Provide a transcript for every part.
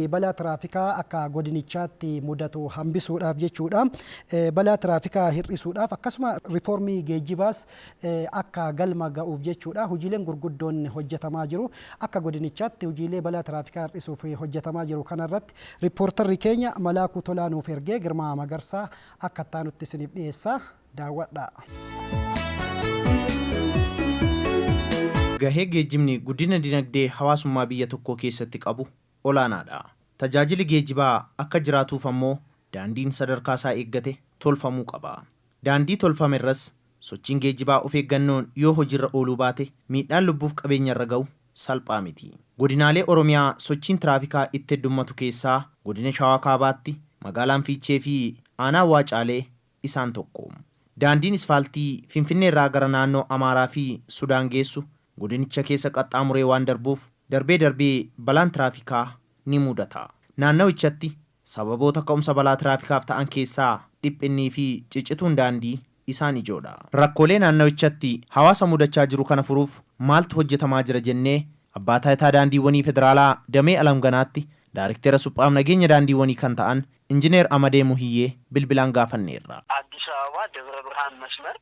balaa tiraafikaa akka godinichaatti mudatu hambisuudhaaf jechuudha. Balaa tiraafikaa hir'isuudhaaf akkasuma rifoormii geejjibaas akka galma ga'uuf jechuudha. Hojiileen gurguddoon hojjetamaa jiru. Akka godinichaatti hojiilee balaa tiraafikaa hir'isuuf hojjetamaa jiru kanarratti Rippoortarri keenya Malaakuu Tolaa nuuf ergee Girmaa Magarsaa akka itti aanutti isiniif dhiyeessa. Daawwadhaa. Gahee geejjibni guddina dinagdee hawaasummaa biyya tokkoo keessatti qabu olaanaadha. Tajaajili geejibaa akka jiraatuuf ammoo daandiin sadarkaasaa eeggate tolfamuu qaba. Daandii tolfamerras Sochiin geejjibaa of eeggannoon yoo hojiirra ooluu baate miidhaan lubbuuf qabeenyarra ga'u salphaa miti. Godinaalee Oromiyaa sochiin tiraafikaa itti heddummatu keessaa Godina Shawaa Kaabaatti magaalaan Fiichee fi aanaan Waacaalee isaan tokko. Daandiin isfaaltii Finfinneerraa gara naannoo Amaaraa fi Sudaan geessu godinicha keessa qaxxaamuree waan darbuuf darbee darbee balaan tiraafikaa ni muudata. Naannawichatti Sababoota ka'umsa balaa tiraafikaaf ta'an keessaa dhiphinnii fi ciccituun daandii isaan ijoodha. Rakkoolee naannawichatti hawaasa mudachaa jiru kana furuuf maaltu hojjetamaa jira jennee Abbaa Taayitaa Daandiiwwanii Federaalaa damee Alamganaatti Daarikteera Suphaaf Nageenya Daandiiwwanii kan ta'an Injineer Amadee Muhiyyee bilbilaan gaafanneerra. Addis Ababa Debra Birhaan Masmar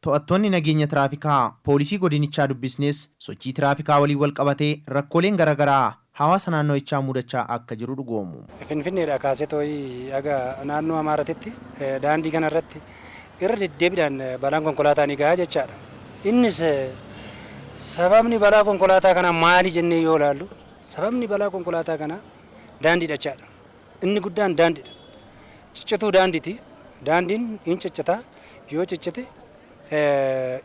To'attoonni nageenya tiraafikaa poolisii godinichaa dubbisnes sochii tiraafikaa waliin walqabatee rakkooleen garagaraa hawaasa naannawichaa mudachaa akka jiru dhugoomu. Finfinneedhaa kaasee toi haga naannoo Amaaratitti daandii kana irratti irra deddeebidhaan balaan konkolaataa ni gaha jechaadha. Innis sababni balaa konkolaataa kanaa maali jennee yoo ilaallu sababni balaa konkolaataa kanaa daandiidha jechaadha. Inni guddaan daandiidha. Ciccituu daandiiti. Daandiin in ciccita. Yoo ciccite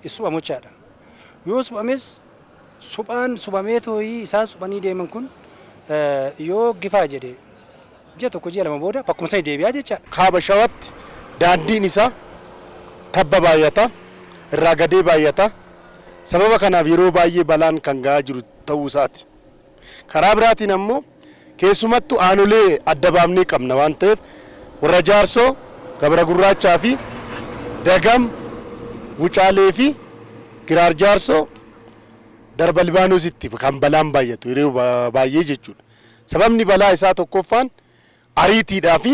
in suphamu jechaadha. Yoo suphames suphaan suphamee tooyii isaan suphanii deeman kun yoo gifaa jedhe ji'a tokko ji'a lama booda bakkuma sani deebi'a jechaadha. Kaaba Shawatti daandiin isaa tabba baay'ata, irraa gadee baay'ata. Sababa kanaaf yeroo baay'ee balaan kan ga'aa jiru ta'uu isaati. Karaa biraatiin ammoo keessumattuu aanolee adda baafnee qabna waan ta'eef Warra Jaarsoo, Gabra Gurraachaa fi Dagam, Wucaalee fi Giraar Jaarsoo darba Libaanositti kan balaan baay'atu yeroo baay'ee jechuudha. Sababni balaa isaa tokkoffaan ariitiidhaa fi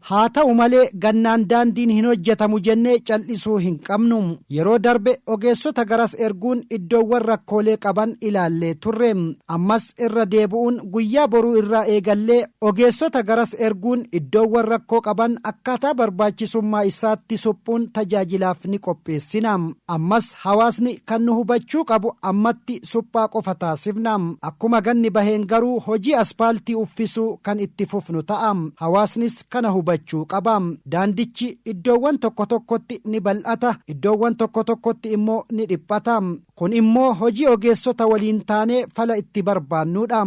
Haa ta'u malee, gannaan daandiin hin hojjetamu jennee cal'isuu hin qabnu. Yeroo darbe ogeessota garas erguun iddoowwan rakkoolee qaban ilaallee turre. Ammas irra deebu'uun guyyaa boruu irraa eegallee ogeessota garas erguun iddoowwan rakkoo qaban akkaataa barbaachisummaa isaatti suphuun tajaajilaaf ni qopheessina. Ammas. Hawaasni kan nu hubachuu qabu ammatti suphaa qofa taasifna. Akkuma ganni baheen garuu hojii aspaaltii uffisuu kan itti fufnu ta'a. Hawaasnis kana hubachuu qaba. Daandichi iddoowwan tokko tokkotti ni bal'ata, iddoowwan tokko tokkotti immoo ni dhiphata. Kun immoo hojii ogeessota waliin taanee fala itti barbaannuudha.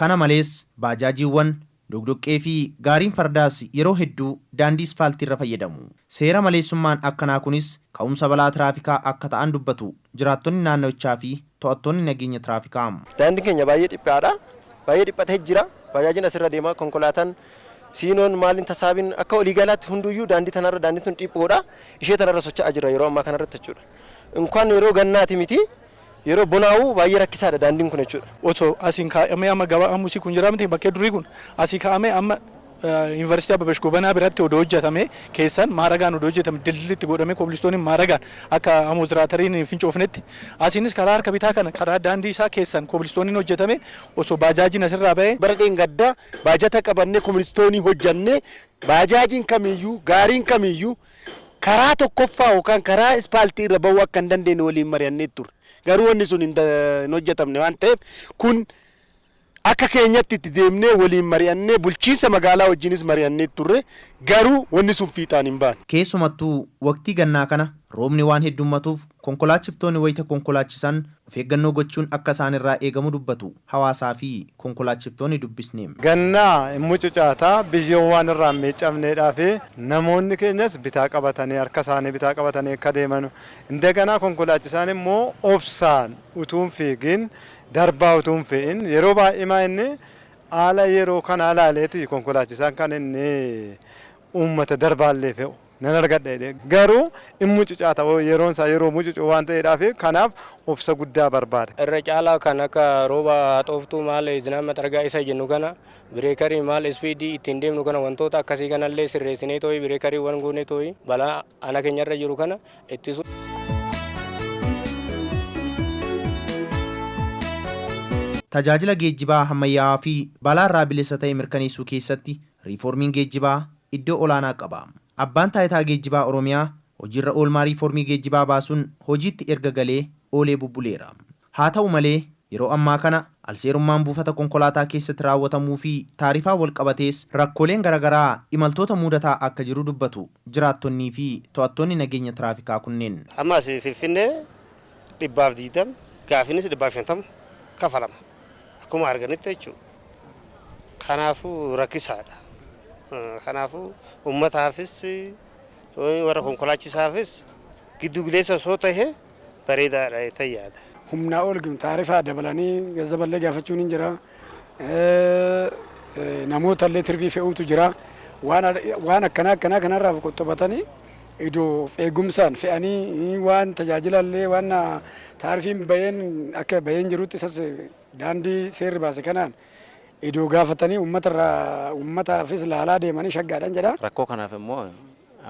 Kana malees, baajaajiiwwan, doqdoqqee fi gaariin fardaas yeroo hedduu daandii isfaaltiirra fayyadamu. Seera maleessummaan akkanaa kunis ka'umsa balaa tiraafikaa akka ta'an dubbatu jiraattonni naannawichaa fi to'attoonni nageenya tiraafikaa. Daandiin keenya baay'ee dhiphaadha. Baay'ee dhiphatee jira. Baajaajiin asirra deema, konkolaataan, siinoon, maaliin, tasaabiin akka walii galaatti hunduuyyuu daandii tanarra, daandiin tun dhiphoodha. Ishee tanarra socha'aa jirra yeroo ammaa kanarratti jechuudha. Inkwaan yeroo gannaati miti Yeroo bonaa'u baay'ee rakkisaadha daandiin kun jechuudha. Oto asiin kaa'amee amma gabaa Hamusi kun jira miti bakkee durii kun asii ka'amee amma Yuunivarsiitii Abbabash Gobanaa biratti odoo hojjatamee keessan maaragaan odoo hojjatame dildilli itti godhamee kobilistooniin maaragaan akka amootiraatariin hin fincoofnetti asiinis karaa harka bitaa kana karaa daandii isaa keessan kobilistooniin hojjatamee osoo baajaajiin asirraa ba'ee Bara dheengaddaa baajata qabannee kobilistoonii hojjannee baajaajiin kamiiyyuu gaariin kamiiyyuu karaa tokkoffaa yookaan karaa ispaaltii irra ba'uu akka hin dandeenye waliin mari'annee turre. Garuu wanni sun hin da- hin hojjetamne waan ta'eef kun akka keenyatti itti deemnee waliin mari'annee bulchiinsa magaalaa wajjinis mari'annee turre. Garuu wanni sun fiixaan hin baane. Keessumattuu waqtii gannaa kana roobni waan heddummatuuf konkolaachiftoonni wayita konkolaachisan of eeggannoo gochuun akka isaanirraa eegamu dubbatu hawaasaa fi konkolaachiftoonni dubbisne. Ganna in mucucaata, biyyoon waan irraa hin miiccamneedhaa fi namoonni keenyas bitaa qabatanii harka isaanii bitaa qabatanii akka deemanu, indaganaa konkolaachisaan immoo obsaan utuu hin fiigin, darbaa utuu hin fe'in, yeroo baay'eemaa inni haala yeroo kanaa ilaaleeti konkolaachisaan kan inni uummata darbaallee fe'u. nan argadha jedhee garuu in mucucaata yeroon isaa yeroo mucucuu waan ta'eedhaaf kanaaf obsa guddaa barbaada. Irra caalaa kan akka rooba haxooftuu maal zinaan maxargaa isa jennu kana bireekarii maal ispiidii ittiin deemnu kana wantoota akkasii kanallee sirreessinee tooyi bireekarii wan goonee tooyi balaa ana keenyarra jiru kana ittisu. Tajaajila geejjibaa hammayyaa'aa fi balaarraa bilisa ta'e mirkaneessuu keessatti Riifoormiin geejjibaa iddoo olaanaa qaba. Abbaan Taayitaa Geejjibaa Oromiyaa hojiirra oolmaa riifoormii geejjibaa baasuun hojiitti erga galee oolee bubbuleera. Haata'u malee, yeroo ammaa kana alseerummaan buufata konkolaataa keessatti raawwatamuufi taarifaan walqabatees rakkooleen garagaraa imaltoota muudataa akka jiru dubbatu jiraattonniifi to'attoonni nageenya tiraafikaa kunneen. Amma as Finfinnee dhibbaaf 20 gaafiinis dhibbaaf 50 kafalama akkuma arganitti jechuu kanaafuu rakkisaadha kanaafuu ummataafis warra konkolaachisaafis giddu gileessa osoo tahe bareedaadha ta'e yaada. humnaa ol taarifaa dabalanii gazzaballee gaafachuun hin jira. namoota illee tirvii fe'uutu jira. Waan akkanaa akkanaa kanarraa of qoxxobatanii idoo of eegumsaan fe'anii waan tajaajila illee waan taarifiin bayeen akka bayeen jirutti isas daandii seerri baase kanaan idoo gaafatanii uummatarraa uummataafis laalaa deemanii shaggaadhaan jedha. Rakkoo kanaaf immoo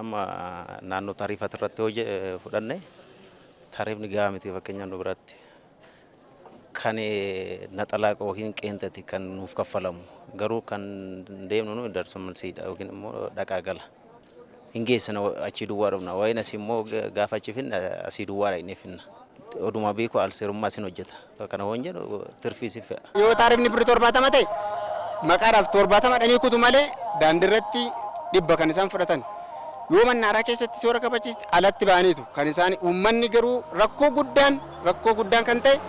amma naannoo taariifaati irratti hojje fudhanne taariifni gahaa miti fakkeenyaaf nu biratti. Kan naxalaa yookiin qeenxati kan nuuf kaffalamu. Garuu kan deemnu nu darsa malsiidha yookiin immoo dhaqaa gala. Hin geessina achii duwwaa dhufna. Waa'een asii immoo gaafa achi finna asii duwwaa dhaqnee finna. Oduma beeku alseerummaa isin hojjeta. Kana hoon jedhu tirfii si fe'a. Yoo taarifni birri torbaatama ta'e maqaadhaaf torbaatama dhanii kutu malee daandirratti dhibba kan isaan fudhatan. Yoo mannaaraa keessatti soora kabachiiste alatti ba'aniitu kan isaan uummanni garuu rakkoo guddaan Rakkoo guddaan kan ta'e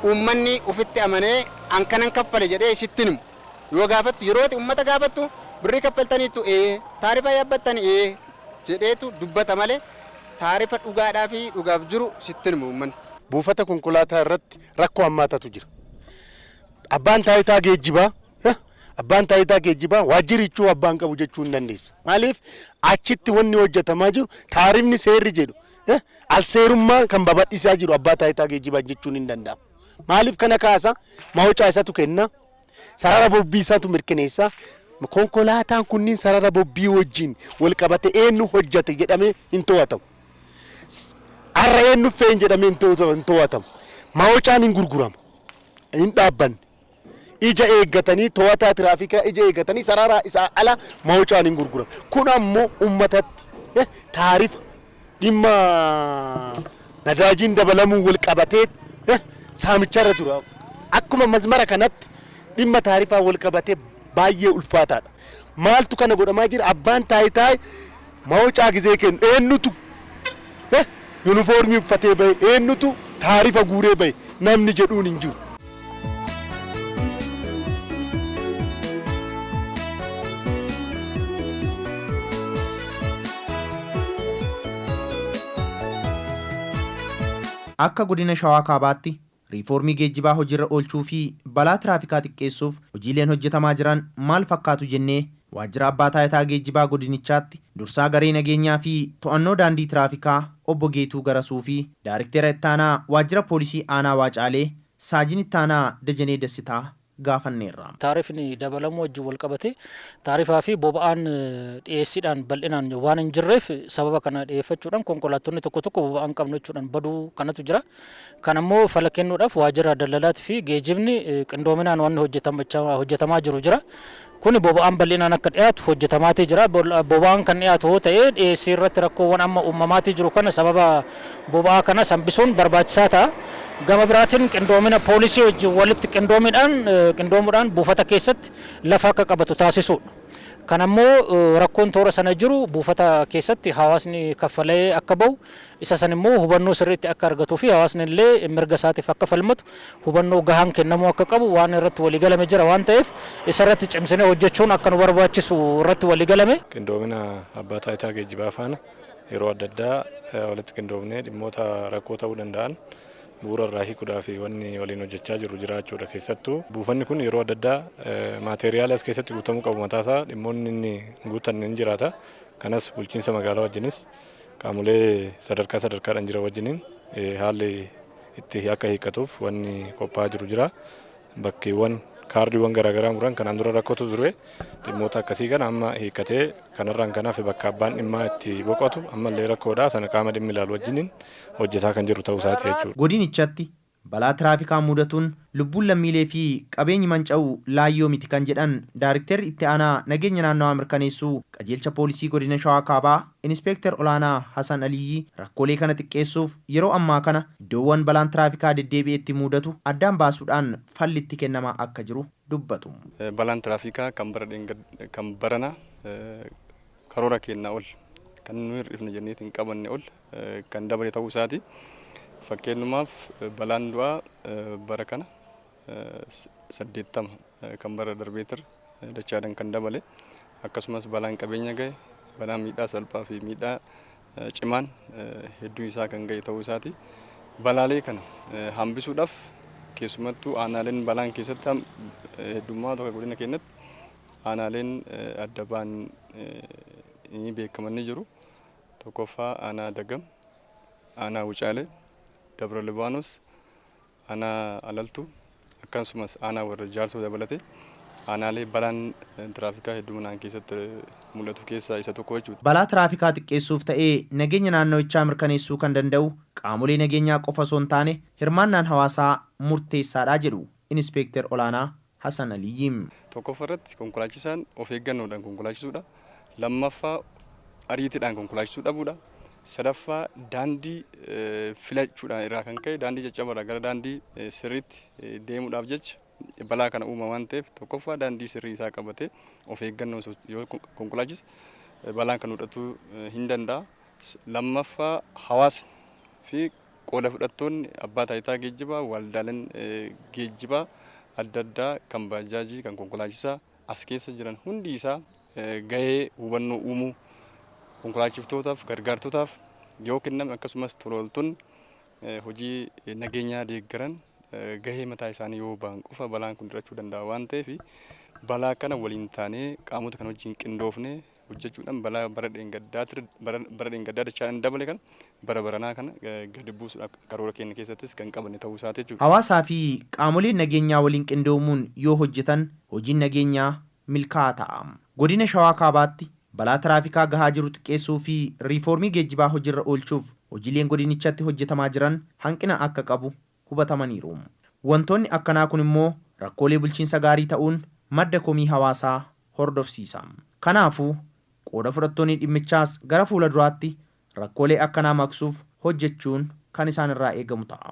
uummanni ofitti amanee an kanan kaffale jedhee sitti hin himu. Yoo gaafattu yeroo ati uummata gaafattu birrii kaffaltaniittu ee, taarifa yaabbattan ee jedheetu dubbata malee taarifa dhugaadhaa fi dhugaaf jiru sitti hin himu uummanni. Buufata konkolaataa irratti rakkoo hammaatatu jira. Abbaan taayitaa geejjibaa Abbaan taayitaa geejjibaa waajjirichuu abbaan qabu jechuu hin dandeessa. Maaliif achitti wanni hojjetamaa jiru taarifni seerri jedhu alseerummaa kan babadhisaa jiru abbaa taayitaa geejjibaa jechuun hin danda'amu. Maaliif kana kaasa? Mawocaa isatu kenna, sarara bobbii isatu mirkaneessa. Konkolaataan kunniin sarara bobbii wajjin wal qabate eenyu hojjate jedhamee hin to'atamu. Har'a eenyu fe'een jedhamee hin to'atamu. Mawocaan hin gurguramu, hin dhaabbanne. ija eeggatanii to'ataa tiraafikaa ija eeggatanii sararaa isaa ala mawucaan hin gurguran. Kun ammoo ummatatti eh, taarifa dhimma nadaajiin dabalamuu wal qabatee eh, saamicharra jiru. Akkuma mazmara kanatti dhimma taarifaa wal qabatee baay'ee ulfaataadha. Maaltu kana godhamaa jira? Abbaan taayitaa Maocaa gizee kennu eennutu he yunifoormii uffatee bahe, eennutu taarifa guuree bahe namni jedhuun hin jiru. Akka Godina Shawaa Kaabaatti Riifoormii geejjibaa hojiirra oolchuu fi balaa tiraafikaa xiqqeessuuf hojiileen hojjetamaa jiran maal fakkaatu jennee Waajjira Abbaa Taayitaa Geejjibaa Godinichaatti Dursaa Garee Nageenyaa fi To'annoo Daandii Tiraafikaa Obbo Geetuu Garasuu fi Daariktera Ittaanaa Waajjira Poolisii Aanaa Waacaalee Saajin Ittaanaa Dajanee Dassitaa gaafanneerra. Taarifni dabalamuu wajjin walqabatee taarifaa fi boba'aan dhiyeessiidhaan bal'inaan waan hin jirreef sababa kana dhiyeeffachuudhaan konkolaattonni tokko tokko boba'aa hin qabnu jechuudhaan baduu kanatu jira. Kana immoo fala kennuudhaaf waajjira daldalaatii fi geejibni qindoominaan wanni hojjetamaa jiru jira. Kuni boba'aan bal'inaan akka dhiyaatu hojjetamaatii jira. Boba'aan kan dhiyaatu hoo ta'ee dhiyeessii irratti rakkoowwan amma uumamaatii jiru kana sababa boba'aa kanas hambisuun barbaachisaa ta'a. Gama biraatiin qindoomina poolisii wajjin walitti qindoomiidhaan qindoomuudhaan buufata keessatti lafa akka qabatu taasisuudha. Kana immoo rakkoon toora sana jiru buufata keessatti hawaasni kaffalee akka bahu Isa san immoo hubannoo sirriitti akka argatuu fi hawaasni illee mirga isaatiif akka falmatu hubannoo gahaan kennamuu akka qabu waan irratti walii galame jira waan ta'eef isa irratti cimsinee hojjechuun akka nu barbaachisu irratti walii galame. Qindoomina Abbaa Taayitaa Geejjibaa faana yeroo adda addaa walitti qindoofnee dhimmoota rakkoo ta'uu danda'an bu'uura irraa hiikuudhaaf wanni waliin hojjechaa jirru jiraachuu dha. Keessattuu buufanni kun yeroo adda addaa maateeriyaalii as keessatti guutamuu qabu mataa isaa dhimmoonni inni hin guuttanne ni jiraata. Kanas bulchiinsa magaalaa wajjinis qaamolee sadarkaa sadarkaadhaan jiran wajjiniin haalli itti akka hiikkatuuf wanni qophaa'aa jiru jira. Bakkeewwan kaardiiwwan garaagaraa muran kanaan dura rakkootu ture dhimmoota akkasii kana amma hiikkatee kanarraan kan hafe bakka abbaan dhimmaa itti boqotu ammallee rakkoodha sana qaama dhimmi ilaalu wajjiniin hojjetaa kan jiru ta'uu isaati jechuudha. Godinichatti Balaa tiraafikaa muudatuun lubbuun lammiilee fi qabeenyi manca'u laayyoo miti kan jedhan Daarikterri Itti Aanaa Nageenya Naannawaa Mirkaneessuu Qajeelcha Poolisii Godina Shawaa Kaabaa Inispeekter Olaanaa Hasan Aliyyi rakkoolee kana xiqqeessuuf yeroo ammaa kana iddoowwan balaan tiraafikaa deddeebi'etti muudatu addaan baasuudhaan falli itti kennamaa akka jiru dubbatu. Balaan tiraafikaa kan bara dheengaddaa kan baranaa karoora keennaa ol kan nu hir'ifna jenneeti hin qabanne ol kan dabale ta'uu isaati. Fakkeennumaaf balaan du'aa bara kana 80 kan bara darbeetir dachaadhaan kan dabale akkasumas balaan qabeenya gahe balaa miidhaa salphaa fi miidhaa cimaan hedduu isaa kan gahe ta'uu isaati. Balaalee kana hambisuudhaaf keessumattuu aanaaleen balaan keessatti heddummaa tokko godina keenyatti aanaaleen adda ba'an beekamanii jiru. 1ffaa Aanaa Dagam, Aanaa Wucaalee, Dabra Libaanos, Aanaa Alaltuu akkasumas Aanaa Warra Jaarsoo dabalatee aanaalee balaan tiraafikaa hedduminaan keessatti mul'atu keessaa isa tokko jechuudha. Balaa tiraafikaa xiqqeessuuf ta'ee nageenya naannawichaa mirkaneessuu kan danda'u qaamolee nageenyaa qofa osoo hin taane hirmaannaan hawaasaa murteessaadha jedhu Inispeekter Olaanaa Hasan Aliyyi. Tokkoffaa irratti konkolaachisaan of eeggannoodhaan konkolaachisuudha. Lammaffaa ariitiidhaan konkolaachisuu dhabuudha. Sadaffaa daandii filachuudhaan irraa kan ka'e daandii caccaba irraa gara daandii sirriitti deemuudhaaf jecha balaa kana uuma waan ta'eef tokkoffaa daandii sirrii isaa qabatee of eeggannoon yoo konkolaachise balaan kan mudhatuu hin danda'a. Lammaffaa hawaasni fi Qooda fudhattoonni Abbaa Taayitaa Geejjibaa, Waldaaleen Geejjibaa adda addaa kan Baajaajii, kan Konkolaachisaa as keessa jiran hundi isaa gahee hubannoo uumuu konkolaachiftootaaf, gargaartotaaf yoo kenname akkasumas tolooltonni hojii nageenyaa deeggaran gahee mataa isaanii yoo ba'an qofa balaan kun dhirachuu danda'a waan ta'eef balaa kana waliin taanee qaamota kan wajjin qindoofne hojjechuudhaan balaa bara dheengaddaatirra bara bara dheengaddaa dachaadhaan dabale kana bara baranaa kana eh, gadi buusuudhaaf karoora keenya keessattis kan qabanne ta'uu isaati jechuudha. Hawaasaa fi qaamoleen nageenyaa waliin qindoomuun yoo hojjetan hojiin nageenyaa milkaa'aa ta'a. Godina Shawaa Kaabaatti balaa tiraafikaa gahaa jiru xiqqeessuu fi riifoormii geejjibaa hojirra oolchuuf hojiileen godinichatti hojjetamaa jiran hanqina akka qabu hubatamaniiru. Wantoonni akkanaa kun immoo rakkoolee bulchiinsa gaarii ta'uun madda komii hawaasaa hordofsiisa. Kanaafuu, qooda fudhattoonni dhimmichaas gara fuula duraatti rakkoolee akkanaa maqsuuf hojjechuun kan isaan irraa eegamu ta'a.